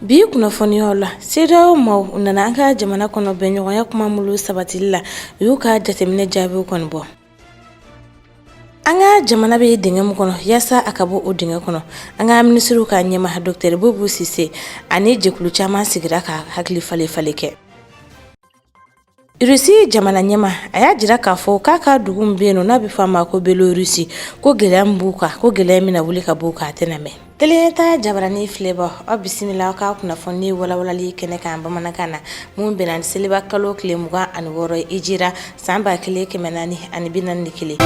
Bi kunnafoniyaw la CEDEAO maaw u nana an ka jamana kɔnɔ bɛnɲɔgɔnya kuma mulu sabatili la u y'u ka jateminɛ jaabiw kɔni bɔ an ka jamana bɛ dingɛ min kɔnɔ yaasa a ka bɔ o dingɛ kɔnɔ an ka minisiriw ka ɲɛma Doctor Bubu Sise ani jɛkulu caman sigira ka hakili falen falen kɛ Rusi jamana ɲɛma a y'a jira k'a fɔ k'a ka dugu min bɛ yen n'a bɛ fɔ a ma ko Belorusi ko gɛlɛya min b'u kan ko gɛlɛya min na wuli ka b'u kan a tɛna mɛn Tele Nyɛta jabaranin filɛbaaw aw bisimila an ka kunnafoni walalawalali kɛnɛ kan bamanankan na min bɛnna seliba kalo tile mugan ani wɔɔrɔ hijira san ba kelen kɛmɛ naani ani bi naani ni kelen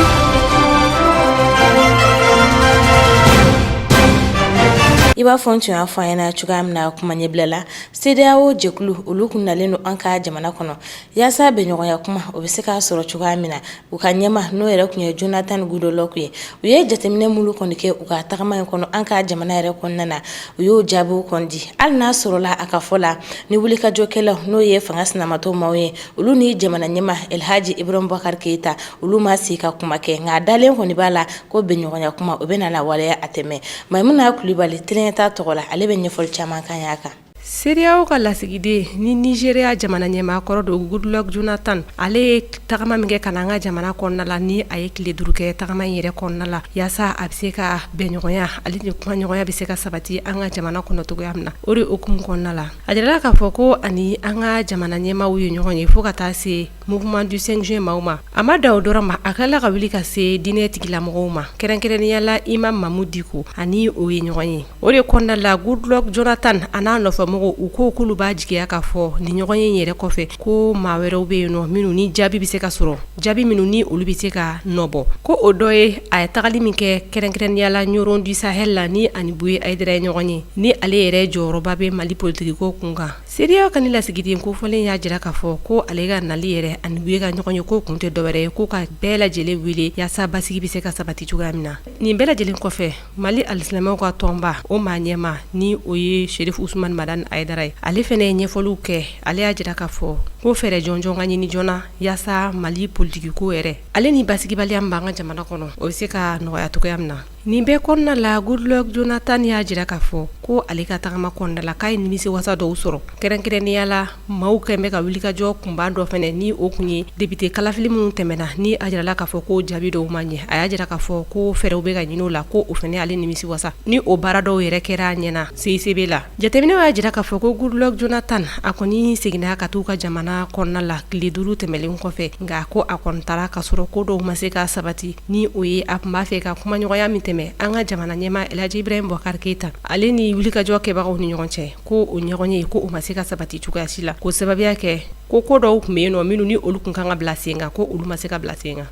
i b'a fɔ n tun y'a fɔ aw ɲɛna cogoya min na kuma ɲɛbila la CEDEAO jɛkulu olu kun nalen don an ka jamana kɔnɔ yaasa bɛnɲɔgɔnya kuma o bɛ se ka sɔrɔ cogoya min na u ka ɲɛma n'o yɛrɛ kun ye Jonathan Goodluck ye u ye jateminɛ mulu kɔni kɛ u ka tagama in kɔnɔ an ka jamana yɛrɛ kɔnɔna na u y'o jaabiw kɔni di hali n'a sɔrɔla a ka fɔ la ni wulikajɔkɛlaw n'o ye fanga sinamatɔn maaw ye olu ni jamana ɲɛma Alihaji Iburahima Bubakari Keyita olu ma se ka kuma kɛ nka dalen kɔni b'a la ko bɛnɲɔgɔnya kuma o bɛ na waleya a tɛ mɛn Mayimuna Kulubali Tele Nyɛta tɔgɔ la ale bɛ ɲɛfɔli caman k'an y'a kan CEDEAO ka lasigiden ni Nizeriya jamana ɲɛmaa kɔrɔ don Goodluck Jonathan ale ye tagama min kɛ ka na an ka jamana kɔnɔna la ni a ye tile duuru kɛ tagama in yɛrɛ kɔnɔna la yaasa a bɛ se ka bɛnɲɔgɔnya ale ni kumaɲɔgɔnya bɛ se ka sabati an ka jamana kɔnɔ cogoya min na o de hukumu kɔnɔna la A jirala k'a fɔ ko ani an ka jamana ɲɛmaaw ye ɲɔgɔn ye fo ka taa se Mouvement du 5 juin maaw ma a ma dan o dɔrɔn ma a kɛla ka wuli ka se diinɛ tigilamɔgɔw ma kɛrɛnkɛrɛnnenya la Imam Mamudu Diko ani o ye ɲɔgɔn ye o de kɔnɔna la Goodluck Jonathan a n'a nɔfɛmɔgɔw u ko k'olu b'a jigiya k'a fɔ nin ɲɔgɔnye yɛrɛ kɔfɛ ko maa wɛrɛw bɛ yen nɔ minnu ni jaabi bɛ se ka sɔrɔ jaabi minnu ni olu bɛ se ka nɔbɔ ko o dɔ ye a ye tagali min kɛ kɛrɛnkɛrɛnnenya la Ɲɔrɔn du Sahel la ni ani Buye Ayidara ye ɲɔgɔn ye ni ale yɛrɛ jɔyɔrɔba bɛ mali politigiko kun kan CEDEAO ka nin lasigiden kofɔlen y'a jira k'a fɔ ko ale ka nali yɛrɛ ani Buye ka ɲɔgɔnye ko kun tɛ dɔwɛrɛ ye ko ka bɛɛ lajɛlen wele yaasa basigi bɛ se ka sabati cogoya min na nin bɛɛ lajɛlen kɔfɛ Mali alisilamaw ka tɔnba o maa ɲɛma ni o ye Sherifu Usumani Madani Ayidara ye ale fɛnɛ ye ɲɛfɔliw kɛ ale y'a jira k'a fɔ ko fɛɛrɛ jɔnjɔn ka ɲini joona yaasa mali politigiko yɛrɛ ale ni basigibaliya min b'an ka jamana kɔnɔ o bɛ se ka nɔgɔya cogoya min na nin bɛɛ kɔnɔna la Goodluck Jonathan y'a jira k'a fɔ ko ale ka tagama kɔnɔna la k'a ye nimisi wasa dɔw sɔrɔ kɛrɛnkɛrɛnnenya la Maaw kɛlen bɛ ka wulikajɔ kunba dɔ fana ni o tun ye depite kalafili minnu tɛmɛna ni a jirala k'a fɔ ko jaabi dɔw ma ɲɛ a y'a jira k'a fɔ ko fɛɛrɛw bɛ ka ɲini o la ko o fana ale nimisi wasa ni o baara dɔw yɛrɛ kɛra a ɲɛna CICB la jateminɛw y'a jira k'a fɔ ko Goodluck Jonathan a kɔni seginna ka t'u ka jamana kɔnɔna la tile duuru tɛmɛnlen kɔfɛ nka ko a kɔni taara ka sɔrɔ ko dɔw ma se ka sabati ni o ye a tun b'a fɛ ka kumaɲɔgɔnya min tɛmɛn an ka jamana ɲɛmaa Elhaji Ibrahim Boubacar Keita ale ni wulikajɔ kɛbagaw ni ɲɔgɔn cɛ ko o ɲɔgɔnye ko o ma se ka sabati cogoya si la ko sababu y'a kɛ ko ko dɔw tun bɛ yen nɔ minnu ni olu tun kan ka bila sen kan ko olu ma se ka bila sen kan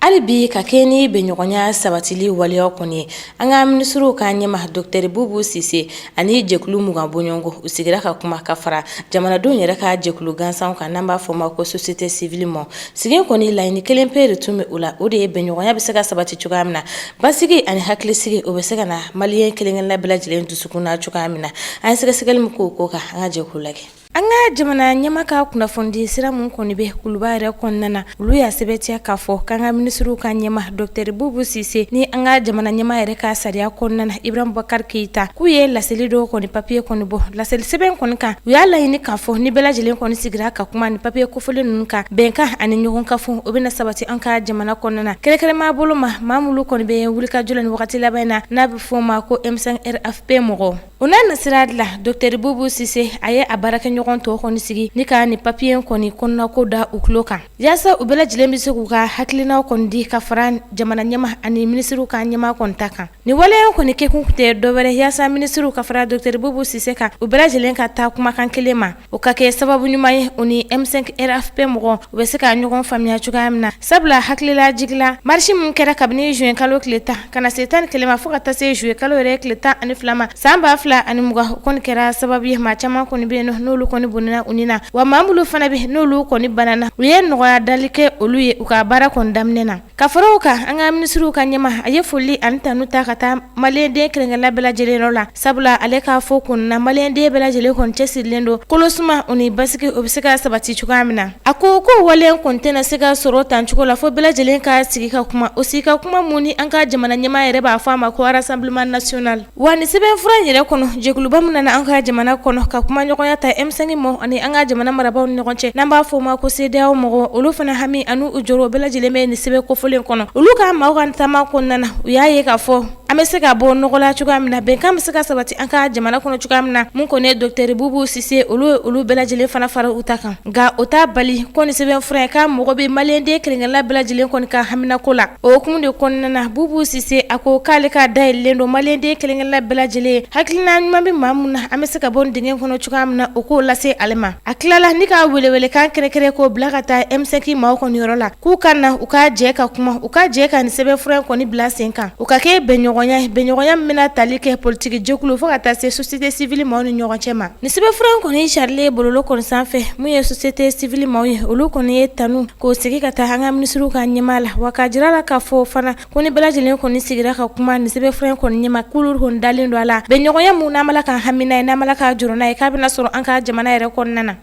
hali bi ka kɛ ni bɛnɲɔgɔnya sabatili waleyaw kɔni ye an ka minisiriw ka ɲɛma Docteur Boubou Cissé ani jɛkulu mugan bɔɲɔgɔnko u sigira ka kuma ka fara jamanadenw yɛrɛ ka jɛkulu gansanw kan n'an b'a fɔ ma ko société civile ma sigi kɔni laɲini kelen pe de tun bɛ o la o de ye bɛnɲɔgɔnya bɛ se ka sabati cogoya min na Basigi ani hakilisigi o bɛ se ka na maliyɛn kelenkelenna bɛɛ lajɛlen dusukun na cogoya min na an ye sɛgɛsɛgɛli min k'o ko kan an ka jɛ k'o lajɛ an ka jamana ɲɛma ka kunnafonidi sira minnu kɔni bɛ kuluba yɛrɛ kɔnɔna na olu y'a sɛbɛntiya k'a fɔ k'an ka minisiriw ka ɲɛma Docteur Boubou Cissé ni an ka jamana ɲɛma yɛrɛ ka sariya kɔnɔna na Ibrahim Boubacar Keita k'u ye laseli dɔw kɔni papiye kɔni bɔ laseli sɛbɛn kɔni kan u y'a laɲini k'a fɔ ni bɛɛ lajɛlen kɔni sigira ka kuma ni papiye fɔlen ninnu kan bɛnkan ani ɲɔgɔn ka fɔ o bɛna sabati an ka jamana kɔnɔna na kɛrɛnkɛrɛnma bolo ma maa minnu kɔni bɛ wulikajɔ la ni wagati laban in na n'a bɛ fɔ o ma ko M5 RFP mɔgɔw o n'a nasira de la Docteur Boubou Cissé a ye a baarakɛɲɔgɔn tɔw kɔni sigi ni ka ni papiye in kɔni kɔnɔnako da u tulo kan yaasa u bɛɛ lajɛlen bɛ se k'u ka hakilinaw kɔni di ka fara jamana ɲɛma ani minisiriw ka ɲɛma kɔni ta kan nin waleya kɔni kɛkun tɛ dɔwɛrɛ yaasa minisiriw ka fara Docteur Boubou Cissé kan u bɛɛ lajɛlen ka taa kumakan kelen ma O ka kɛ sababu ɲuman ye u ni M5 RFP mɔgɔw u bɛ se ka ɲɔgɔn faamuya cogoya min na sabula hakililajigin la marisi min kɛra kabini juillet kalo tile tan ka na se tan ni kelen ma fo ka taa se juillet kalo yɛrɛ tile tan ani fila ma san ba fila ani mugan o kɔni kɛra sababu ye maa caman kɔni bɛ yen n'olu kɔni bɔnɛna u ni na wa maa minnu fana bɛ n'olu kɔni banana u ye nɔgɔya dali kɛ olu ye u ka baara kɔni daminɛ na Ka fara o kan an ka minisiriw ka ɲɛma a ye foli ani tanu ta ka taa maliyɛnden kelenkelenna bɛɛ lajɛlen yɔrɔ la sabula ale k'a fɔ kun na maliyɛnden bɛɛ lajɛlen kɔni cɛsirilen don kolosuma o ni basigi o bɛ se ka sabati cogoya min na a ko k'o waleya kɔni tɛna se ka sɔrɔ tan cogo la fo bɛɛ lajɛlen ka sigi ka kuma o sigi ka kuma min ni an ka jamana ɲɛmaa yɛrɛ b'a fɔ a ma ko rassemblement national Wa nin sɛbɛnfura in yɛrɛ kɔnɔ jɛkuluba min nana an ka jamana kɔnɔ ka kumaɲɔgɔnya ta M5 maaw ani an ka jamana marabagaw ni ɲɔgɔn cɛ n'an b'a fɔ o ma ko CEDEAO mɔgɔw olu fana hami ani u jɔrɔ bɛɛ lajɛlen bɛ nin sɛbɛn kofɔlen kɔnɔ olu ka maaw ka taama kɔnɔna na u y'a ye k'a fɔ an bɛ se ka bɔ nɔgɔ la cogoya min na bɛnkan bɛ se ka sabati an ka jamana kɔnɔ cogoya min na min kɔni ye Docteur Boubou Cissé olu ye olu bɛɛ lajɛlen fana fara u ta kan nka o t'a bali ko nin sɛbɛn fura in k'a mago bɛ maliyɛnden kelen kelenna bɛɛ lajɛlen kɔni ka haminako la o hukumu de kɔnɔna na bubu sise a ko k'ale ka da yɛlɛlen don maliyɛnden kelen kelenna bɛɛ lajɛlen hakilina ɲuman bɛ maa min na an bɛ se ka bɔ nin dingɛ kɔnɔ cogoya min na o k'o lase ale ma a tilala ni ka welewelekan kɛrɛnkɛrɛn k'o bila ka taa M5 maaw kɔni yɔrɔ la k'u ka na u ka jɛ ka kuma u ka jɛ ka nin sɛbɛn fura in kɔni bila sen kan u k'a kɛ bɛnɲɔgɔnya ye bɛnɲɔgɔnya min bɛna tali kɛ politiki jɛkulu fo ka taa se société civile maaw ni ɲɔgɔn cɛ ma Nin sɛbɛnfura in kɔni carilen bɔlɔlɔ kɔni sanfɛ min ye société civile maaw ye olu kɔni ye tanu k'o sigi ka taa an ka minisiriw ka ɲɛmaa la wa k'a jira a la k'a fɔ fana ko ni bɛɛ lajɛlen kɔni sigira ka kuma nin sɛbɛnfura in kɔni ɲɛma k'olu kɔni dalen don a la bɛnɲɔgɔnya min n'an bala ka hami n'a ye n'an bala ka jɔrɔ n'a ye k'a bɛna sɔrɔ an ka jamana yɛrɛ kɔnɔna na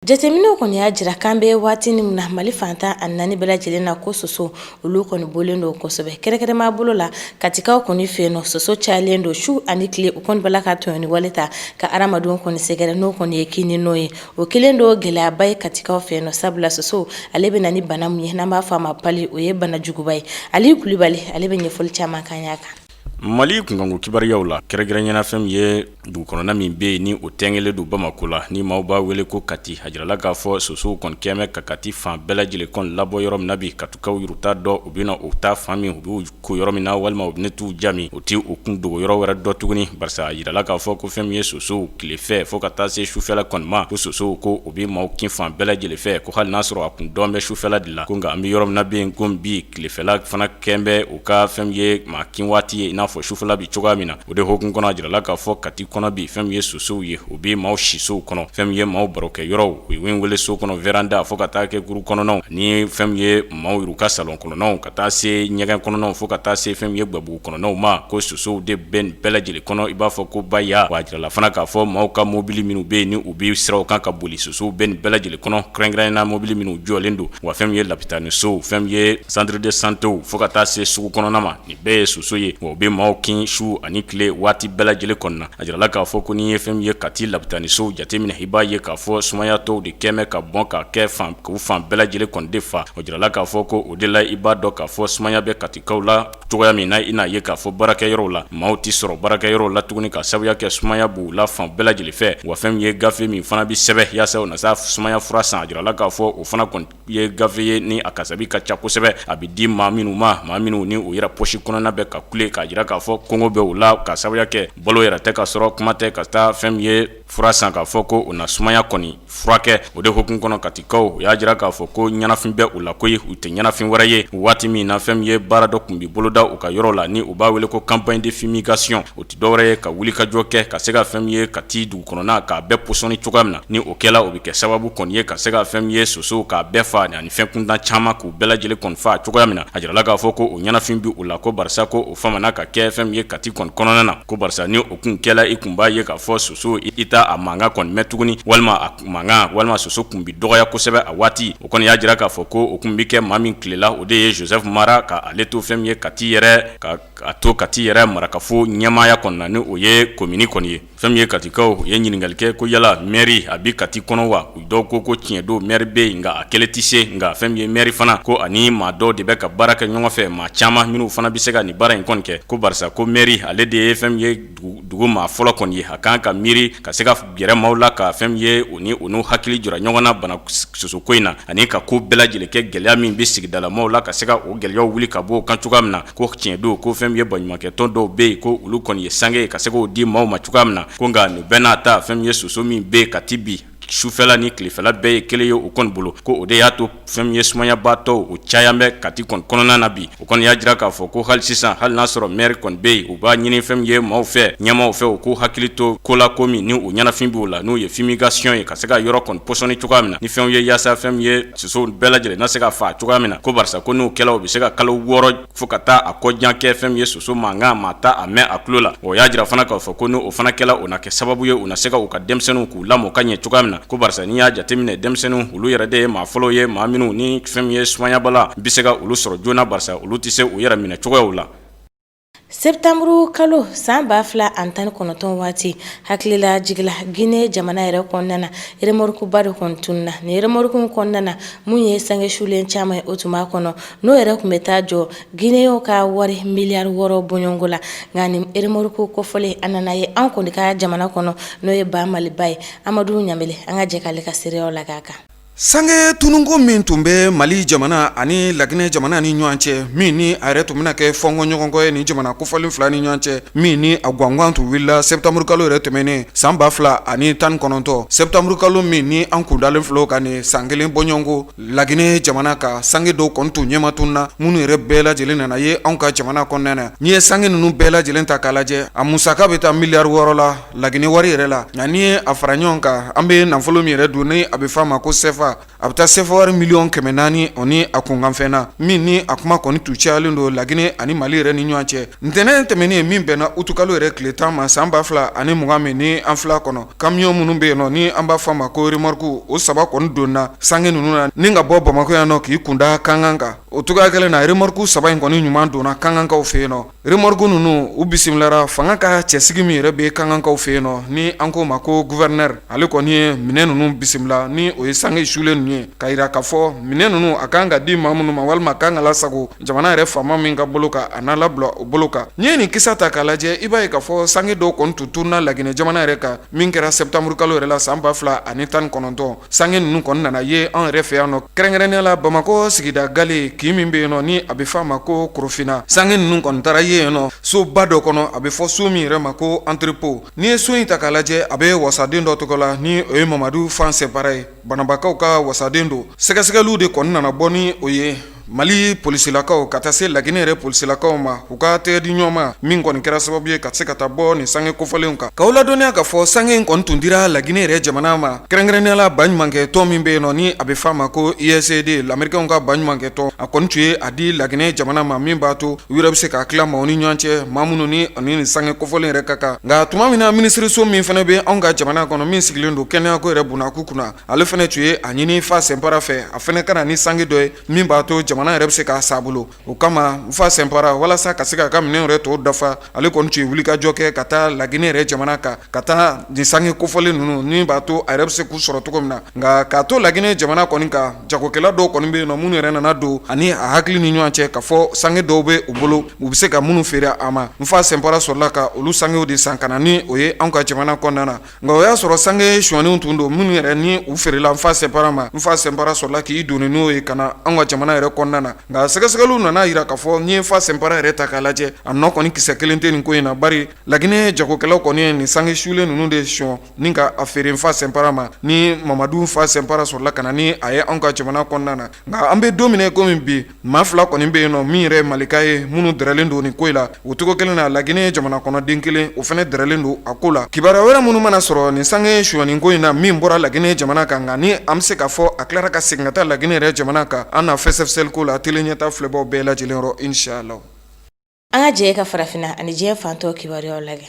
Jateminɛw kɔni y'a jira k'an bɛ waati min na mali fan tan ani naani bɛɛ lajɛlen na ko soso olu kɔni bɔlen don kosɛbɛ kɛrɛnkɛrɛnma bolo la katikaw kɔni fɛ yen nɔ soso cayalen don su ani tile u kɔni bala ka tɔɲɔni wale ta ka adamadenw kɔni sɛgɛrɛ n'o kɔni ye kinni n'o ye o kɛlen don gɛlɛyaba ye katikaw fɛ yen nɔ sabula soso ale bɛ na ni bana min ye n'an b'a fɔ a ma pali o ye banajuguba ye ali kulubali ale bɛ ɲɛfɔli caman k'an y'a kan Mali kunkanko kibaruyaw la kɛrɛnkɛrɛnnenna fɛn min ye dugu kɔnɔna min bɛ yen ni o tɛngɛlen don bamakɔ la ni maaw b'a wele ko kati a jirala k'a fɔ sosow kɔni kɛmɛ ka kati fan bɛɛ lajɛlen kɔni labɔ yɔrɔ min na bi katikaw yɛrɛ t'a dɔn u bɛna u taa fan min u b'u ko yɔrɔ min na walima u bɛna t'u ja min u tɛ u kun dogoyɔrɔ wɛrɛ dɔn tuguni barisa a jirala k'a fɔ ko fɛn min ye sosow tilefɛ fo ka taa se sufɛla kɔni ma ko sosow ko u bɛ maaw kin fan bɛɛ lajɛlen fɛ ko hali n'a sɔrɔ a kun dɔn bɛ sufɛla de la ko nka an bɛ yɔrɔ min na bɛ ko bi tilefɛla fana kɛ bɛ u ka fɛn min ye maa kin waati ye i n'a fɔ sufɛla bɛ cogoya min na o de hukumu kɔnɔ a jirala k'a fɔ kati kɔnɔ bi fɛn min ye sosow ye u bɛ maaw sisow kɔnɔ fɛn min ye maaw barokɛyɔrɔw u ye wele so kɔnɔ veranda fo ka taa kɛ kuru kɔnɔnaw ni fɛn min ye maaw yɛrɛ ka salon kɔnɔnaw ka taa se ɲɛgɛn kɔnɔnaw fo ka taa se fɛn min ye gwabugu kɔnɔnaw ma ko sosow de bɛ nin bɛɛ lajɛlen kɔnɔ i b'a fɔ ko baya wa a jirala fana k'a fɔ maaw ka mobili minnu bɛ yen ni u bɛ siraw kan ka boli sosow bɛ nin bɛɛ lajɛlen kɔnɔ kɛrɛnkɛrɛnnenna mobili minnu jɔlen don wa fɛn min ye lapitanisow fɛn min ye centre de santé fo ka taa se sugu kɔnɔna ma nin bɛɛ ye soso ye wa u bɛ maaw kin su ani tile waati bɛɛ lajɛlen kɔnɔna na a jirala k'a fɔ ko n'i ye fɛn min ye kati lapitanisow jateminɛ i b'a ye k'a fɔ sumayatɔw de kɛmɛ ka bɔn ka kɛ fan k'u fan bɛɛ lajɛlen kɔni de fa o jirala k'a fɔ ko o de la i b'a dɔn k'a fɔ sumaya bɛ katikaw la cogoya min na i n'a ye k'a fɔ baarakɛyɔrɔw la maaw tɛ sɔrɔ baarakɛyɔrɔw la tuguni ka sabuya kɛ sumaya b'u la fan bɛɛ lajɛlen fɛ wa fɛn min ye gafe min fana bɛ sɛbɛn yaasa u na sa sumaya fura san a jirala k'a fɔ o fana kɔni ye gafe ye ni a kasabi ka ca kosɛbɛ a bɛ di maa minnu ma maa minnu ni u yɛrɛ pɔsi kɔnɔna bɛ ka kule k'a jira k'a fɔ kɔngɔ bɛ u la ka sabuya kɛ balo yɛrɛ tɛ ka sɔrɔ kuma tɛ ka taa fɛn min ye fura san k'a fɔ ko u na sumaya kɔni furakɛ o de hukumu kɔnɔ katikaw u y'a jira k'a fɔ ko ɲɛnafin bɛ u la ko ye u tɛ ɲɛnafin wɛrɛ ye waati min na fɛn min ye baara dɔ kun bɛ boloda u ka yɔrɔ la ni u b'a wele ko campagne de fumigation o tɛ dɔwɛrɛ ye ka wuli ka jɔ kɛ ka se ka fɛn min ye kati dugu kɔnɔna k'a bɛɛ pɔsɔnni cogoya min na ni o kɛla o bɛ kɛ sababu kɔni ye ka se ka fɛn min ye sosow k'a bɛɛ faa ani fɛn kuntan caman k'u bɛɛ lajɛlen kɔni faa cogoya min na a jirala k'a fɔ ko o ɲɛnafin bɛ u la ko barisa ko o famana ka kɛ fɛn min ye kati kɔni kɔnɔna na ko barisa ni o kun kɛla i kun b'a ye k'a fɔ soso i t'a mankan kɔni mɛn tuguni walima a mankan walima soso kun bɛ dɔgɔya kosɛbɛ a waati o kɔni y'a jira k'a fɔ ko o kun bɛ kɛ maa min tile la o de ye Joseph Mara k'ale to fɛn min ye kati yɛrɛ ka to kati yɛrɛ marakafo ɲɛmaaya kɔnɔna na ni o ye komini kɔni ye fɛn min ye katikaw ye ɲininkali kɛ ko yala mɛri a bɛ kati kɔnɔ wa u dɔw ko ko tiɲɛ don mɛri bɛ yen nka a kelen tɛ se nka fɛn min ye mɛri fana ko ani maa dɔw de bɛ ka baara kɛ ɲɔgɔn fɛ maa caman minnu fana bɛ se ka nin baara in kɔni kɛ ko barisa ko mɛri ale de ye fɛn min ye dugu maa fɔlɔ kɔni ye a kan ka miiri ka se ka gɛrɛ maaw la ka fɛn min ye u ni u n'u hakili jira ɲɔgɔn na bana sosoko in na ani ka ko bɛɛ lajɛlen kɛ gɛlɛya min bɛ sigidalamaaw la ka se ka o gɛlɛyaw wuli ka bɔ u kan cogoya min na ko tiɲɛ don ko fɛn min ye baɲumankɛ tɔn dɔw bɛ yen ko olu kɔni ye sange ka se k'o di maaw ma cogoya min na ko nka nin bɛɛ n'a ta fɛn min ye soso min bɛ yen kati bi sufɛla ni tilefɛla bɛɛ ye kelen ye u kɔni bolo ko o de y'a to fɛn min ye sumayabaatɔw u caya bɛ kati kɔni kɔnɔna na bi o kɔni y'a jira k'a fɔ ko hali sisan hali n'a sɔrɔ mɛri kɔni bɛ yen u b'a ɲini fɛn min ye maaw fɛ ɲɛmaaw fɛ u k'u hakili to ko la ko min ni o ɲɛnafin b'u la n'o ye fumigation ye ka se ka yɔrɔ kɔni pɔsɔnni cogoya min na ni fɛn ye yaasa fɛn ye sosow bɛɛ lajɛlen na se ka faa cogoya min na ko barisa ko n'o kɛla u bɛ se ka kalo wɔɔrɔ fo ka taa a kɔ jan kɛ fɛn min ye soso mankan maa t'a mɛn a tulo la o y'a jira fana k'a fɔ ko n'o fana kɛla o na kɛ sababu ye u na se ka u ka denmisɛnninw k'u lamɔ ka ɲɛ cogoya min na ko barisa n'i y'a jateminɛ denmisɛnninw olu yɛrɛ de ye maa fɔlɔw ye maa minnu ni fɛn min ye sumayabana bɛ se ka olu sɔrɔ joona barisa olu tɛ se u yɛrɛ minɛ cogoyaw la Setamuru kalo san ba fila ani tan ni kɔnɔntɔn waati hakililajigin na gine jamana yɛrɛ kɔnɔna na remorukuba dɔ kɔni tununna ni remoruku kɔnɔna na min ye sange sulen caman o tun b'a kɔnɔ n'o yɛrɛ kun bɛ taa jɔ gine ka wari miliyari wɔɔrɔ bɔɲɔgɔnko la nka ni remoruku kofɔlen a nana ye an kɔni ka jamana kɔnɔ n'o ye ba maliba ye amadu ɲamele an ka jɛ k'ale ka seereyaw lajɛ a kan Sange tununko min tun bɛ mali jamana ani laginɛ jamana ni ɲɔgɔn cɛ min ni a yɛrɛ tun bɛna kɛ fɔɲɔgɔnkɔ ye ni jamana kofɔlen fila ni ɲɔgɔn cɛ min ni a gangan tun wulila setamuru kalo yɛrɛ tɛmɛnen san ba fila ani tan ni kɔnɔntɔn setamuru kalo min ni an kundalen filɛ ka nin san kelen bɔɲɔgɔnko laginɛ jamana ka sange dɔw kɔni tun ɲɛmatununna minnu yɛrɛ bɛɛ lajɛlen nana ye anw ka jamana kɔnɔna na n'i ye sange ninnu bɛɛ lajɛlen ta k'a lajɛ a musaka bɛ taa miliyari wɔɔrɔ la laginɛ wari yɛrɛ la nka n'i ye a fara ɲɔgɔn kan an bɛ nafolo min yɛrɛ dun ni a bɛ f'a ma ko sefa a bɛ taa sefa wari miliyɔn kɛmɛ naani o ni a kunkanfɛn na min ni a kuma kɔni tun cayalen don laginɛ ani mali yɛrɛ ni ɲɔgɔn cɛ ntɛnɛn tɛmɛnen in min bɛnna utukalo yɛrɛ tile tan ma san ba fila ani mugan min ni an fil'a kɔnɔ kamiyɔn minnu bɛ yen nɔ ni an b'a fɔ a ma ko remɔrikuw o saba kɔni donna sange ninnu na ni ka bɔ bamakɔ yan nɔ k'i kunda kankan kan o cogoya kelen na remɔriku saba in kɔni ɲuman donna kankankaw fɛ yen nɔ Remɔriku ninnu u bisimilara fanga ka cɛsigi min yɛrɛ bɛ kankankaw fɛ yen nɔ ni an k'o ma ko guvɛrɛnɛri ale kɔni ye minɛn ninnu bisimila ni o ye sange sulen ninnu ye k'a yira k'a fɔ minɛn ninnu a kan ka di maa minnu ma walima k'a kan ka lasago jamana yɛrɛ faama min ka bolo kan a n'a labila o bolo kan n'i ye nin kisa ta k'a lajɛ i b'a ye k'a fɔ sange dɔw kɔni tun tununna laginɛ jamana yɛrɛ kan min kɛra sɛtanburukalo yɛrɛ la san ba fila ani tan ni kɔnɔntɔn Sange ninnu kɔni nana ye anw yɛrɛ fɛ yan nɔ kɛrɛnkɛrɛnnenya la bamakɔ sigida gale kin min bɛ yen nɔ ni a bɛ f'a ma ko korofina sange ninnu kɔni taara ye yen nɔ soba dɔ kɔnɔ a bɛ fɔ so min yɛrɛ ma ko antirepo n'i ye so in ta k'a lajɛ a bɛ wasaden dɔ tɔgɔ la ni o ye mamadu nfa sɛnpara ye bananbakaw ka wasaden don sɛgɛsɛgɛliw de kɔni nana bɔ ni o ye Mali polisilakaw ka taa se laginɛ yɛrɛ polisilakaw ma u ka tɛgɛ di ɲɔgɔn ma min kɔni kɛra sababu ye ka se ka taa bɔ nin sange kofɔlenw kan k'u ladɔnniya k'a fɔ sange in kɔni tun dira laginɛ yɛrɛ jamana ma kɛrɛnkɛrɛnnenya la baɲumankɛ tɔn min bɛ yen nɔ ni a bɛ f'a ma ko USAID amɛrikɛnw ka baɲumankɛ tɔn a kɔni tun ye a di laginɛ jamana ma min b'a to u yɛrɛ bɛ se k'a tila maaw ni ɲɔgɔn cɛ maa minnu ni ani nin sange kofɔlen yɛrɛ ka kan nka tuma min na minisiriso min fana bɛ anw ka jamana kɔnɔ min sigilen don kɛnɛyako yɛrɛ bunakun kunna ale fana tun ye a ɲini fa sɛnpara fɛ a fana ka na ni sange dɔ ye min b'a to jamana yɛrɛ bɛ se k'a san a bolo o kama nfa sɛnpara walasa ka se k'a ka minɛnw yɛrɛ tɔw dafa ale kɔni tun ye wulikajɔ kɛ ka taa laginɛ yɛrɛ jamana kan ka taa nin sange kofɔlen ninnu ni b'a to a yɛrɛ bɛ se k'u sɔrɔ cogo min na nka k'a to laginɛ jamana kɔni kan jagokɛla dɔw kɔni bɛ yen nɔ minnu yɛrɛ nana don ani a hakili ni ɲɔgɔn cɛ k'a fɔ sange dɔw bɛ u bolo u bɛ se ka minnu feere a ma nfa sɛnpara sɔrɔla ka olu sangew de san ka na ni o ye an ka jamana kɔnɔna na Nka o y'a sɔrɔ sange sonyanenw tun don minnu yɛrɛ ni u feerela nfa sɛnpara ma nfa sɛnpara sɔrɔla k'i doni n'o ye ka na an ka jamana yɛrɛ kɔnɔna na nka sɛgɛsɛgɛliw nana a yira k'a fɔ n'i ye nfa sɛnpara yɛrɛ ta k'a lajɛ a nɔ kɔni kisɛ kelen tɛ nin ko in na bari laginɛ jagokɛlaw kɔni ye nin sange sulen ninnu de sonya ni ka a feere nfa sɛnpara ma ni mamadu fa sɛnpara sɔrɔla ka na ni a ye an ka jamana kɔnɔna na nka an bɛ don min na i komi bi maa fila kɔni bɛ yen nɔ min yɛrɛ malika ye minnu dɛrɛlen don nin ko in la o cogo kelen na laginɛ jamana kɔnɔden kelen o fana dɛrɛlen don a ko la kibaruya wɛrɛ minnu mana sɔrɔ nin sange sonyanen ko in na min bɔra laginɛ jamana kan nka ni an bɛ se k'a fɔ a tilara ka segin ka taa laginɛ yɛrɛ jamana kan an na fɛsɛfɛsɛli k'o la tele ɲɛta filɛbaw bɛɛ lajɛlen yɔrɔ inshallahu An ka jɛ ka farafinna ani diɲɛ fan tɔ kibaruyaw lajɛ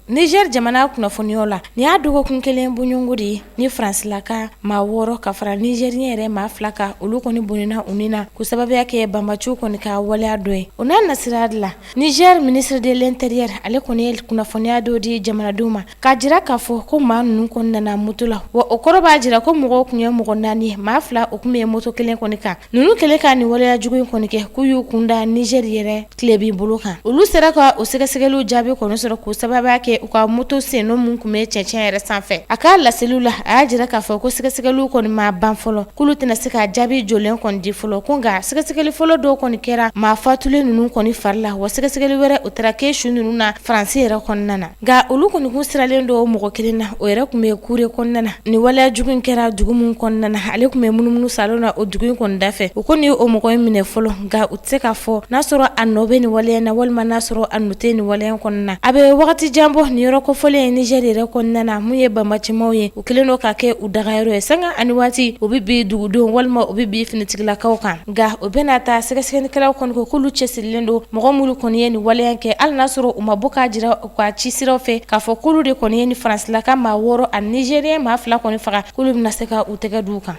Niger jamana kunnafoniyaw la nin y'a dɔgɔkun kelen bɔɲɔngo de ye ni faransilaka maa wɔɔrɔ ka fara nizɛriyɛn yɛrɛ maa fila kan olu kɔni bɔnɛna u ni na k'o sababuya kɛ banbaciw kɔni ka waleya dɔ ye o n'a nasira de la Niger ministre de l'intérieur ale kɔni ye kunnafoniya dɔ di jamanadenw ma K'a jira k'a fɔ ko maa ninnu kɔni nana moto la wa o kɔrɔ b'a jira ko mɔgɔw tun ye mɔgɔ naani ye maa fila u tun bɛ moto kelen kɔni kan ninnu kɛlen ka nin waleya jugu in kɔni kɛ k'u y'u kun da nizeri yɛrɛ tilebin bolo kan olu sera ka o sɛgɛsɛgɛliw jaabi kɔni sɔrɔ k'o sababuya kɛ u ka moto sen nɔ min tun bɛ cɛncɛn yɛrɛ sanfɛ a ka laseliw la a y'a jira k'a fɔ ko sɛgɛsɛgɛli kɔni ma ban fɔlɔ k'olu tɛna se ka jaabi jɔlen kɔni di fɔlɔ ko nka sɛgɛsɛgɛli fɔlɔ dɔw kɔni kɛra maa fatulen ninnu kɔni fari la wa sɛgɛsɛgɛli wɛrɛ o taara kɛ su ninnu na faransi yɛrɛ kɔnɔna na Nka olu kɔni tun siralen don mɔgɔ kelen na o yɛrɛ tun bɛ kuure kɔnɔna na ni waleya jugu in kɛra dugu min kɔnɔna na ale tun bɛ munumunu salon na o dugu in kɔni dafɛ u kɔni ye o mɔgɔ in minɛ fɔlɔ nka u tɛ se k'a fɔ n'a sɔrɔ a nɔ bɛ nin waleya na walima n'a sɔrɔ a nɔ tɛ nin waleya kɔnɔna na a bɛ wagati jan bɔ nin yɔrɔ kofɔlen ye nizɛri yɛrɛ kɔnɔna na mun ye banbacimaw ye u kɛlen don ka kɛ u dagayɔrɔ ye sanga ani waati u bɛ bin dugudenw walima u bɛ bin finitigilakaw kan Nka o bɛɛ n'a ta sɛgɛsɛgɛlikɛlaw kɔni ko k'olu cɛsirilen don mɔgɔ minnu kɔni ye nin waleya kɛ hali n'a sɔrɔ u ma bɔ k'a jira u ka ci siraw fɛ k'a fɔ k'olu de kɔni ye ni faransilaka maa wɔɔrɔ ani nizɛriyɛn maa fila kɔni faga k'olu bɛna se ka u tɛgɛ da u kan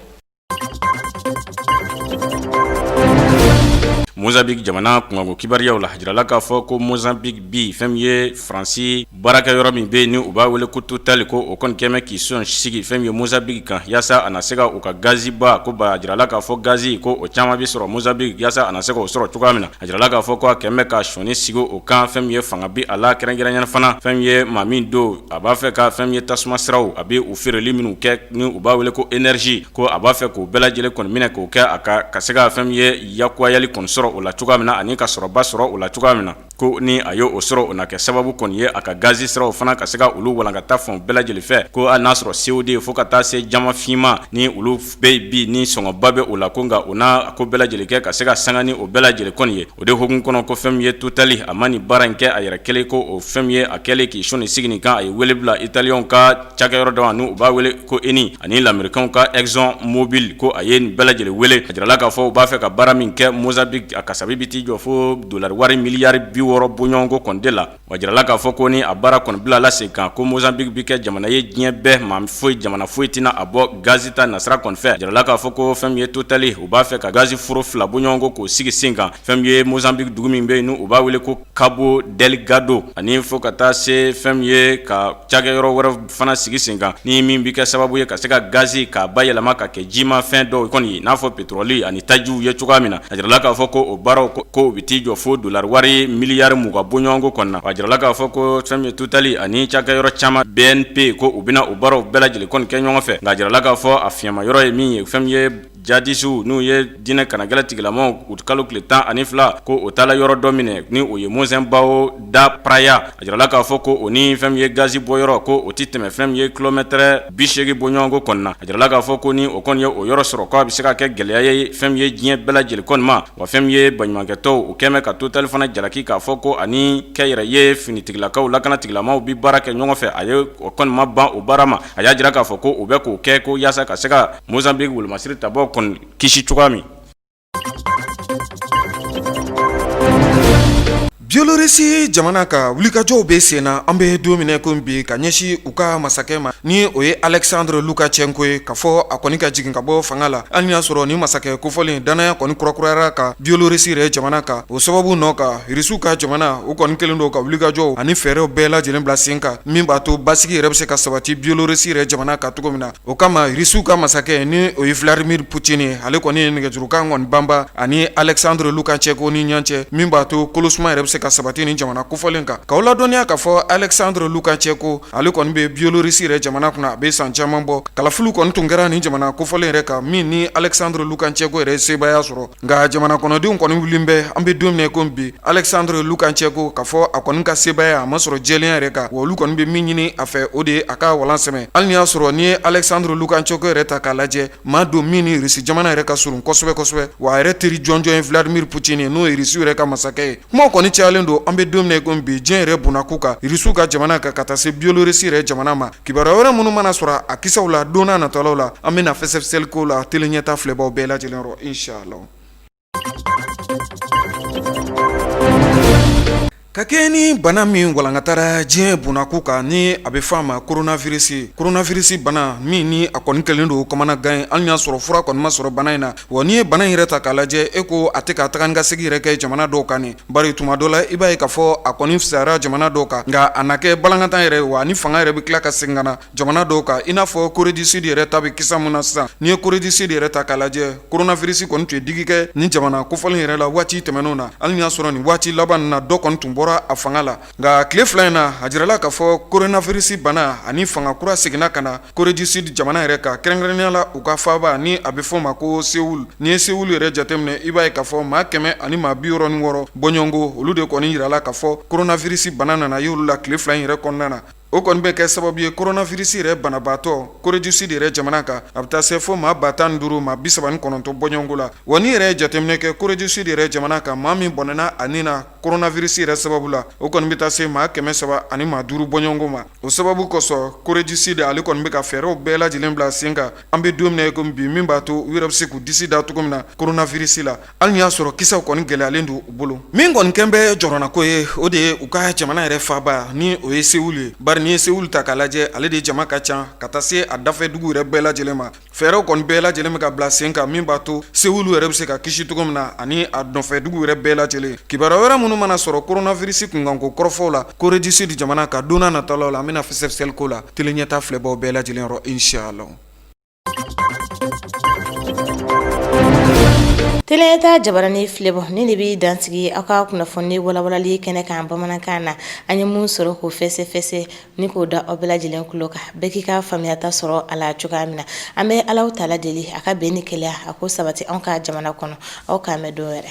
Mozambique jamana kunko kibaruyaw la a jirala k'a fɔ ko Mozambique bi fɛn min ye faransi baarakɛyɔrɔ min bɛ yen n'u b'a wele ko Total ko o kɔni kɛmɛ k'i sɔnin sigi fɛn min ye Mozambique kan yaasa a na se ka u ka gaziba ko ba jirala k'a fɔ gazi ko o caman bɛ sɔrɔ Mozambique yaasa a na se ka o sɔrɔ cogoya min na a jirala k'a fɔ ko a kɛmɛ k'i sɔnin sigi o kan fɛn min ye fanga bɛ a la kɛrɛnkɛrɛnnenya fana fɛn min ye maa min don a b'a fɛ ka fɛn min ye tasuma siraw a bɛ u feereli minnu kɛ ni u b'a wele ko énergie ko a b'a fɛ k'o bɛɛ lajɛlen kɔni minɛ k'o kɛ a ka se ka fɛn min ye lakurayali kɔni sɔrɔ o la cogoya min na ani ka sɔrɔba sɔrɔ o la cogoya min na ko ni a ye o sɔrɔ o na kɛ sababu kɔni ye a ka gazi siraw fana ka se ka olu walankata fan bɛɛ lajɛlen fɛ ko hali n'a sɔrɔ CO2 ye fo ka taa se jaman finman ni olu bɛɛ bi ni sɔngɔba bɛ o la ko nka u n'a ko bɛɛ lajɛlen kɛ ka se ka sanga ni o bɛɛ lajɛlen kɔni ye o de hukumu kɔnɔ ko fɛn min ye Total a ma nin baara in kɛ a yɛrɛ kelen ko o fɛn min ye a kɛlen k'i sɔnin sigi nin kan a ye wele bila italiyɛnw ka cakɛyɔrɔ dɔ ma n'u b'a wele ko ENI ani lamɛrikanw ka Exxon Mobil ko a ye nin bɛɛ lajɛlen wele a jirala k'a fɔ u b'a fɛ ka baara min kɛ Mozambique a kasabi bi t'i jɔ foo dollar wari miliyari 60 bɔɲɔgɔnko kɔni de la wa a jirala k'a fɔ ko ni a baara kɔni bilala sen kan ko Mozambique bi kɛ jamana ye diɲɛ bɛɛ maa foyi jamana foyi tɛna a bɔ gaz ta nasira kɔni fɛ a jirala k'a fɔ ko fɛn min ye Total ye u b'a fɛ ka gaz foro 2 bɔɲɔgɔnko k'o sigi sen kan fɛn min ye Mozambique dugu min be yen n'u b'a wele ko Cabo Delgado ani fo ka taa se fɛn ye ka cakɛyɔrɔ wɛrɛ fana sigi sen kan ni min bɛ kɛ sababu ye ka se ka gazi k'a bayɛlɛma ka kɛ jima fɛn dɔw kɔni ye n'a fɔ petɔrɔli ani tajiw ye cogoya min na a jirala k'a fɔ ko o baaraw ko u bɛ t'i jɔ fo dolari wari miliyari mugan bɔɲɔgɔnko kɔnɔna a jirala k'a fɔ ko fɛn ye Totali ani cakɛyɔrɔ caman BNP ko u bɛna o baaraw bɛɛ lajɛlen kɔni kɛ ɲɔgɔn fɛ nka a jirala k'a fɔ a fiɲɛma yɔrɔ ye min ye fɛn ye jadisiww n'u ye diinɛ kanagɛlɛ tigilamaw u kalo tile tan ani fila ko o taala yɔrɔ dɔ minɛ ni o ye Mocimboa da Praia a jirala k'a fɔ ko o ni fɛn ye gazi bɔyɔrɔ ko o tɛ tɛmɛ fɛn ye kilomɛtɛrɛ bisegin bɔɲɔgɔnko kɔnɔna a jirala k'a fɔ ko ni o kɔni ye o yɔrɔ sɔrɔ k'a bɛ se ka kɛ gɛlɛya ye fɛn ye diɲɛ bɛɛ lajɛlen kɔni ma wa fɛn ye baɲumankɛtɔnw o kɛlen ka totali fana jalaki k'a fɔ ko a ni kɛnyɛrɛye finitigilakaw lakanatigilamaw bɛ baara kɛ ɲɔgɔn fɛ a ye o kɔni ma ban o baara ma a y'a jira k'a fɔ ko o bɛ k'o kɛ ko yaasa ka se Mozambique wolomasiri tabɔ kɔni kisi cogoya min biolorisi jamana ka wulikajɔw bɛ sen na an bɛ don min ko bi ka ɲɛsin u ka masakɛ ma ni o ye Alexandre Lukashenko ye k'a fɔ a kɔni ka jigin ka bɔ fanga la hali ni y'a sɔrɔ ni masakɛ kofɔlen dannaya kɔni kurakurayara ka biolorisi yɛrɛ jamana kan o sababu nɔ ka irisiw ka jamana o kɔni kɛlen don ka wulikajɔw ani fɛɛrɛw bɛɛ lajɛlen bila sen kan min b'a to basigi yɛrɛ bɛ se ka sabati biolorisi yɛrɛ jamana kan cogo min na o kama irisiw ka masakɛ ni o ye Vladimir Poutine ye ale kɔni ye nɛgɛjurukan kɔni banba ani Alexandre Lukashenko ni ɲɔgɔn cɛ min b'a to kolosuma yɛrɛ bɛ se ka sabati nin jamana kofɔlen kan k'aw ladɔnniya k'a fɔ Alexandre Lukashenko ale kɔni bɛ Bielorussie yɛrɛ jamana kunna a bɛ san caman bɔ kalafiliw kɔni tun kɛra nin jamana kofɔlen yɛrɛ kan min ni Alexandre Lukashenko yɛrɛ ye sebaaya sɔrɔ nka jamana kɔnɔdenw kɔni wulilen bɛ an bɛ don min ko bi alexandre lukashenko k'a fɔ a kɔni ka sebaaya a ma sɔrɔ jɛlenya yɛrɛ kan wa olu kɔni bɛ min ɲini a fɛ o de ye a ka walan sɛmɛ hali ni y'a sɔrɔ n'i ye alexandre lukashenko yɛrɛ ta k'a lajɛ maa don min ni irisi jamana yɛrɛ ka surun kosɛbɛ kosɛbɛ wa a yɛrɛ teri jɔnjɔn ye vladimir putin ye n'o ye irisiw yɛrɛ ka masakɛ ye kuma kɔni cayalen don an bɛ don min ko bi diɲɛ yɛrɛ bɔnnakun kan irisiw ka jamana kan ka taa se biolorisi yɛrɛ jamana ma Kibaruya wɛrɛ minnu mana sɔrɔ a kisaw la don n'a natɔlaw la an bɛna fɛsɛfɛsɛli k'o la tele ɲɛtaa filɛbaaw bɛɛ lajɛlen yɔrɔ inch'Allah ka kɛɲɛ ni bana min walankatara diɲɛ bɔnnakun kan ni a bɛ fɔ a ma koronafirisi, koronafirisi bana min ni a kɔni kɛlen don kamanagan ye hali n'a y'a sɔrɔ fura kɔni ma sɔrɔ bana in na Wa n'i ye bana yɛrɛ ta k'a lajɛ e ko a tɛ ka taga ni ka segin yɛrɛ kɛ jamana dɔw kan ni bari tuma dɔ la i b'a ye k'a fɔ a kɔni fisayara jamana dɔw kan nka a na kɛ balankatan yɛrɛ wa a ni fanga yɛrɛ bɛ tila ka segin ka na jamana dɔw kan i n'a fɔ Corée du Sud yɛrɛ ta bɛ kisa min na sisan n'i ye Corée du Sud yɛrɛ ta k'a lajɛ koronafirisi kɔni tun ye digi kɛ ni jamana kofɔlen yɛrɛ la waati tɛmɛnenw na hali ni y'a sɔrɔ nin waati laban na dɔ kɔni tun bɔra a fanga la Nka tile fila in na a jirala k'a fɔ koronafirisi bana ani fanga kura seginna ka na Corée du Sud jamana yɛrɛ kan kɛrɛnkɛrɛnnenya la u ka faaba ni a bɛ fɔ o ma ko Seoul n'i ye Seoul yɛrɛ jateminɛ i b'a ye k'a fɔ maa kɛmɛ ani maa biwɔɔrɔ ni wɔɔrɔ bɔɲɔgɔnko olu de kɔni jirala k'a fɔ koronafirisi bana nana y'olu la tile fila in yɛrɛ kɔnɔna na O kɔni bɛ kɛ sababu ye koronafirisi yɛrɛ banabaatɔ Corée du Sud yɛrɛ jamana kan a bɛ taa se fo maa ba tan ni duuru maa bisaba ni kɔnɔntɔn bɔɲɔgɔnko la wa n'i yɛrɛ ye jateminɛ kɛ Corée du Sud yɛrɛ jamana kan maa min bɔnɛna a nin na koronafirisi yɛrɛ sababu la o kɔni bɛ taa se maa kɛmɛ saba ani maa duuru bɔɲɔgɔnko ma o sababu kosɔn Corée du Sud ale kɔni bɛ ka fɛɛrɛw bɛɛ lajɛlen bila sen kan an bɛ don min na i komi bi min b'a to u yɛrɛ bɛ se k'u disi da cogo min na koronafirisi la hali n'i y'a sɔrɔ kisɛw kɔni gɛlɛyalen don u bolo min kɔni kɛlen bɛ jɔrɔnanko ye o de ye u ka jamana yɛrɛ faaba ni o ye Seoul ye bari n'i ye Seoul ta k'a lajɛ ale de jama ka ca ka taa se a dafɛ dugu yɛrɛ bɛɛ lajɛlen ma fɛɛrɛw kɔni bɛɛ lajɛlen bɛ ka bila sen kan min b'a to Seoul yɛrɛ bɛ se ka kisi cogo min na ani a nɔfɛ dugu yɛrɛ bɛɛ lajɛlen kibaruya wɛrɛ minnu mana sɔrɔ koronafirisi kunkanko kɔrɔfɔw la Corée du Sud jamana kan don nataw la an bɛna fɛsɛfɛsɛli k'o la Tele Ɲɛta filɛbaw bɛɛ lajɛlen yɔrɔ inshallah Tele Ɲɛta jabaranin filɛbaw nin de bɛ dansigi aw ka kunnafoni walawalali kɛnɛ kan bamanankan na an ye min sɔrɔ k'o fɛsɛfɛsɛ ni k'o da aw bɛɛ lajɛlen kulo kan bɛɛ k'i ka faamuyata sɔrɔ a la cogoya min na an bɛ Ala taala deli a ka bɛn ni kelenya ko sabati an ka jamana kɔnɔ aw k'an bɛn don wɛrɛ